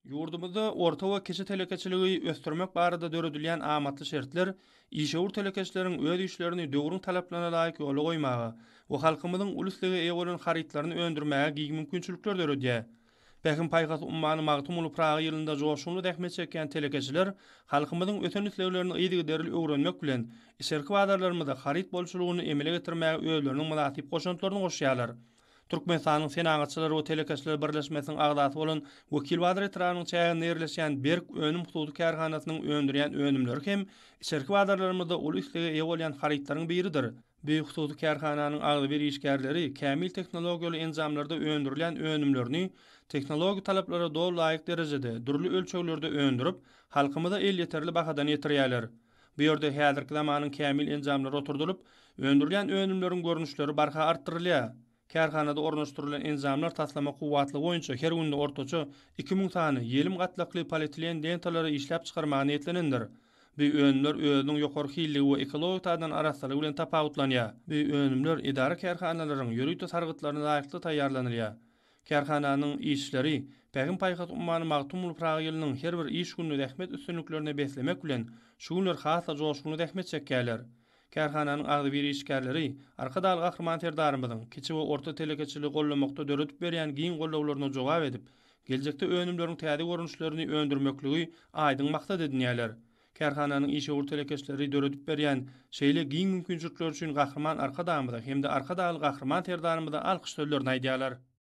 Ýurdumyzda orta we kiçi telekeçiligi ösdürmek barada döredilýän amatly şertler işewür telekeçileriň öz işlerini döwrüň talaplaryna laýyk ýola goýmaga we halkymyzyň uly islege eýe bolan harytlaryny öndürmäge giň mümkinçilikler döredýär. Pähim-paýhas ummany Magtymguly Pyragy ýylynda joşgunly zähmet çekýän telekeçiler halkymyzyň ösen isleglerini yzygiderli öwrenmek bilen, içerki bazarlarymyzda haryt bolçulygyny emele getirmäge özleriniň mynasyp goşantlaryny goşýarlar. Türkmenistanyň Senagatçylar we telekeçiler birleşmesiniň agzasy bolan Wekilbazar etrabynyň çäginde ýerleşýän Berk önüm hususy kärhanasynyň öndürýän önümleri hem içerki bazarlarymyzda uly islege eýe bolýan harytlaryň biridir. Bu hususy kärhananyň agzybir işgärleri kämil tehnologiýaly enjamlarda öndürilýän önümlerini tehnologik talaplara doly laýyk derejede, dürli ölçeglerde öndürip, halkymyza elýeterli bahadan ýetirýärler. Bu ýerde häzirki zamanyň kämil enjamlary oturdylyp, öndürilýän önümleriň görnüşleri barha artdyrylýar. Kärhanada ornaşdyrylan enjamlar taslama kuwwatlygy boýunça her günde ortaça iki müň sany ýelim gatlakly polietilen lentalary işläp çykarmaga niýetlenendir. Bu önümler özüniň ýokary hilligi we ekologik taýdan arassalygy bilen tapawutlanýar. Bu önümler edara-kärhanalaryň ýörite sargytlaryna laýyklykda taýýarlanylýar. Kärhananyň işçileri Pähim-paýhas ummany Magtymguly Pyragy ýylynyň her bir iş gününi zähmet üstünliklerine beslemek bilen, şu günler has-da joşgunly zähmet çekýärler. Kärhananyň agzybir işgärleri Arkadagly Gahryman Serdarymyzyň kiçi we orta telekeçiligi goldamakda döredip berýän giň goldawlaryna jogap edip, geljekde önümleriň täze görnüşlerini öndürmekligi aýdyň maksat edinýärler. Kärhananyň işewür telekeçileri döredip berýän şeýle giň mümkinçilikleri üçin Gahryman Arkadagymyza hem-de Arkadagly Gahryman Serdarymyza alkyş sözlerini aýdýarlar.